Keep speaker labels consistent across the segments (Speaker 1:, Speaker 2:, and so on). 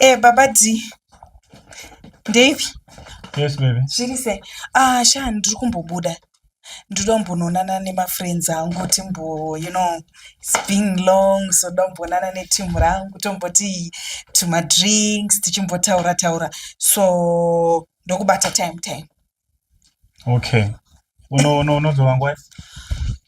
Speaker 1: Eh, baba D. Dave.
Speaker 2: Yes, baby. Zviri sei? Ah,
Speaker 1: sha ndiri kumbobuda. ndotombononana nemafriends angu timbo you know its been long so ndombonana neteam rangu tomboti tumadrinks tichimbotaura taura so ndokubata time time
Speaker 2: okay unozova ngwai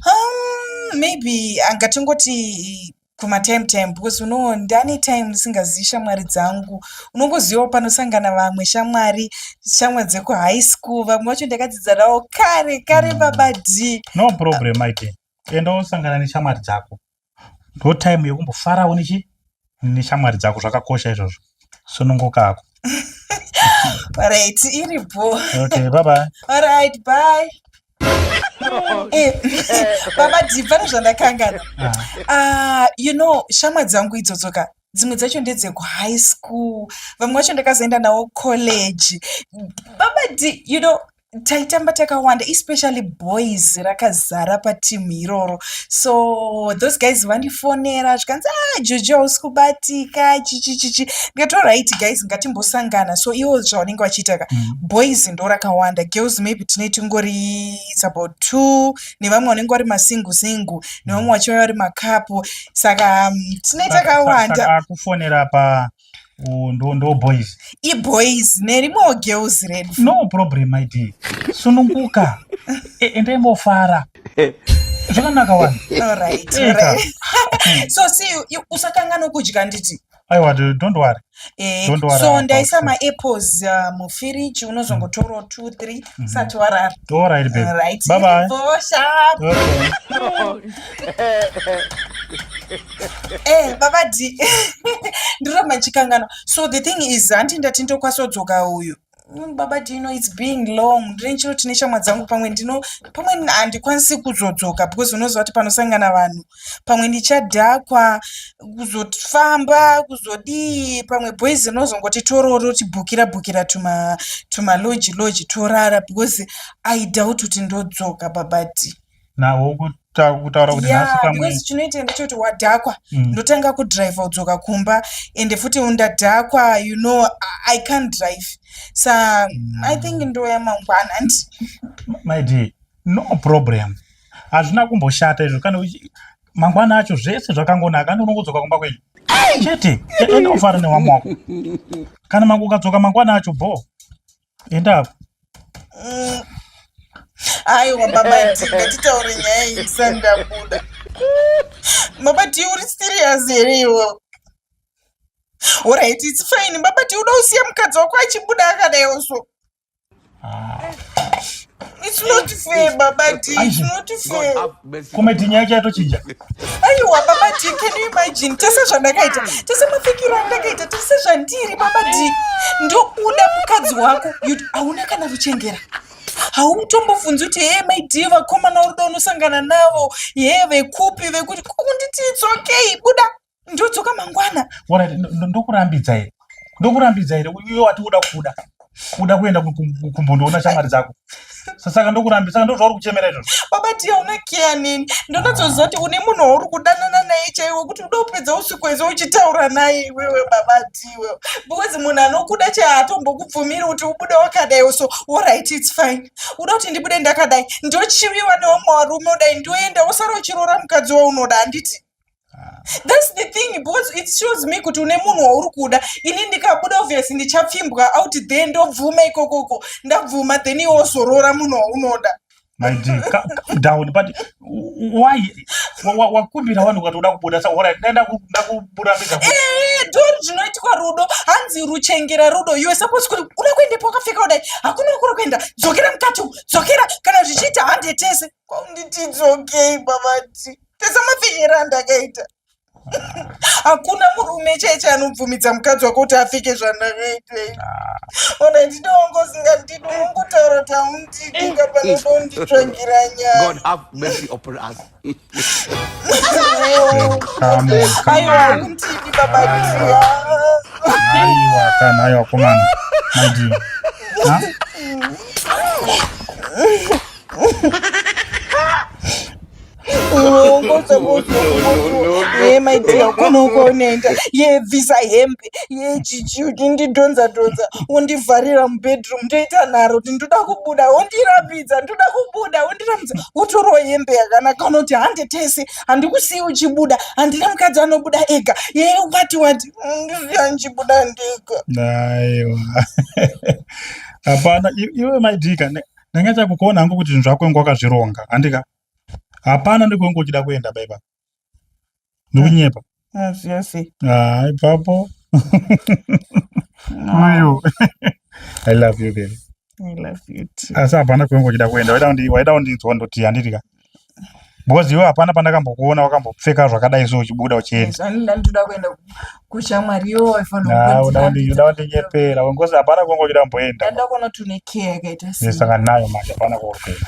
Speaker 2: um maybe
Speaker 1: angatingoti kumatime time because unowo ndani time ndisingazivi shamwari dzangu unongozivawo panosangana vamwe shamwari shamwari dzekuhigh school vamwe vacho ndakadzidza navo kare kare mm. baba d no problem aite
Speaker 2: enda wosangana neshamwari dzako ndo time yekumbofarawo nechi neshamwari dzako zvakakosha izvozvo sununguka ako
Speaker 1: right iri bho okay bye bye
Speaker 2: all right bye
Speaker 1: Eh, baba dhi pane zvandakangana ah. ah, you know shamwa dzangu idzodzo ka dzimwe dzacho ndedzekuhigh school vamwe vacho ndakazoenda navo college baba dhi you know taitamba takawanda especially boys rakazara patimu iroro so those guys vandifonera zvikanzi ah juju hausi kubatika chichichichi ndikati orit guys ngatimbosangana so iwo zvavanenge vachiita ka mm. boys ndo rakawanda girls maybe tine tingori its about two nevamwe vanenge vari masingu singu nevamwe mm. vachiva vari makapo saka mm, tine takawanda kufonera pa
Speaker 2: Oh, ndo ndo boys iboys
Speaker 1: nerimwewo girls redu no problem my
Speaker 2: dear sununguka E- endai mofara zvakanaka wani alright Eka.
Speaker 1: alright so see you- you- usakanganwa kudya nditi aiwa d- don't
Speaker 2: worry Eh, Don't worry so about ndaisa food. maapples
Speaker 1: uh, mufiriji unozongotorawo two three usati warara all right
Speaker 2: babe alright bye bye
Speaker 1: Bosha.
Speaker 2: okay
Speaker 1: eh baba d ndiramba ndichikanganwa so the thing is hanti ndati ndokwasodzoka uyu Mm, baba do you know it's being long ndine chiro tine shamwa dzangu pamwe ndino pamwe n- handikwanisi kuzodzoka because unoziva kuti panosangana vanhu pamwe ndichadhakwa kuzofamba kuzodii pamwe boys rinozongoti tororo tibhukira bhukira tuma tumaloji loji torara because i doubt kuti ndodzoka baba d nawo
Speaker 2: kutaura kuti nhasi pamwe chinoita ndechekuti
Speaker 1: wadhakwa mm. ndotanga kudrive udzoka kumba ende futi undadhakwa you know i can't drive sa mm. i think ndoya mangwana and
Speaker 2: my dear no problem hazvina kumboshata izvo kana mangwana acho zvese zvakangonaka andi unongodzoka kumba kwenyu chete enda ufara newamwako kana mangokadzoka mangwana acho bhoo enda apo mm.
Speaker 1: aiwa baba tingatitaure nyaya iyi sandabuda baba ti uri serious here iwo orit its fine baba ti uda usiya mukadzi wako achibuda akadaiwo so ah. It's not fair, Baba D. It's not fair. Comedy nyaya yake
Speaker 2: yatochinja. Aiwa Baba
Speaker 1: D, can you imagine? Tese zvandakaita, tese mafikiro andakaita, tese zvandiri Baba D. Ndokuda mukadzi wako, hauna kana ruchengera. hautombofunzi kuti hee mai d vakomana uruda unosangana navo hee vekupi vekuti kunditi it's okay buda ndodzoka mangwana
Speaker 2: ndokurambidza here ndokurambidza here uye wati uda kuda uda kuenda kumbondoona shamwari dzako saka ndokurambi saka ndozvauri kuchemera izvozvo baba tiya una keya
Speaker 1: neni ndonatsoziva kuti une munhu wauri kudanana naye chaiwe kuti uda kupedza usiku wese uchitaura naye iwewe baba tiwe because munhu anokuda chai hatombokubvumiri kuti ubude wakadai so orit its fine uda kuti ndibude ndakadai ndochiviwa neomwe warume udai ndoenda usara uchiroora mukadzi waunoda handiti That's the thing because it shows me kuti une munhu wauri kuda ini ndikabuda obviously ndichapfimbwa out there ndobvuma ikokoko ndabvuma then iwe wozorora munhu waunoda my dear
Speaker 2: calm down but why wakumbira vanhu ukati uda kubuda sa orit ndakubuda pega eh, don
Speaker 1: zvinoitwa rudo hanzi ruchengera rudo iwe suppose kuti uda kuendepo wakapfeka kudai hakuna kuri kuenda dzokera mukati dzokera kana zvichiita hande tese kwaunditi dzokei babati tesamapfinyira andakaita hakuna murume cheche anobvumidza mukadzi wako kuti apfeke zvandakaitei ona ndinoongozinga ndidi unongotaura kuti haundidinga panodonditsvangira
Speaker 3: nyaaaiwa
Speaker 1: undidi babaia aiwa
Speaker 2: kana aiwa komana maidi
Speaker 1: maidia ukona ukaonenda yebvisa hembe yejiji undidhonza dhonza undivharira mubedroom ndoita nharo kuti ndoda kubuda undirambidza ndoda kubuda undirambidza wotorawo hembe yakanaka unoti hande tese handikusiyi uchibuda handina mukadzi anobuda ega yeye wati wati ndisiya ndichibuda ndega aiwa
Speaker 2: hapana iwe maidika ndanga chakukuona hangu kuti zvinhu zvako inga wakazvironga handika hapana ndikwangu uchida kuenda baiba ndikunyepa
Speaker 1: ah, ipapo
Speaker 2: uyu i love you baby
Speaker 1: asi hapana kwengu uchida
Speaker 2: kuenda waida kundinzwa ndoti handiti ka because iwe hapana pandakambokuona wakambopfeka zvakadai so uchibuda uchiendauda
Speaker 1: kundinyepera
Speaker 2: wengozi hapana kwengu uchida kumboenda
Speaker 1: saka nayo manje
Speaker 2: hapana kwauri kuenda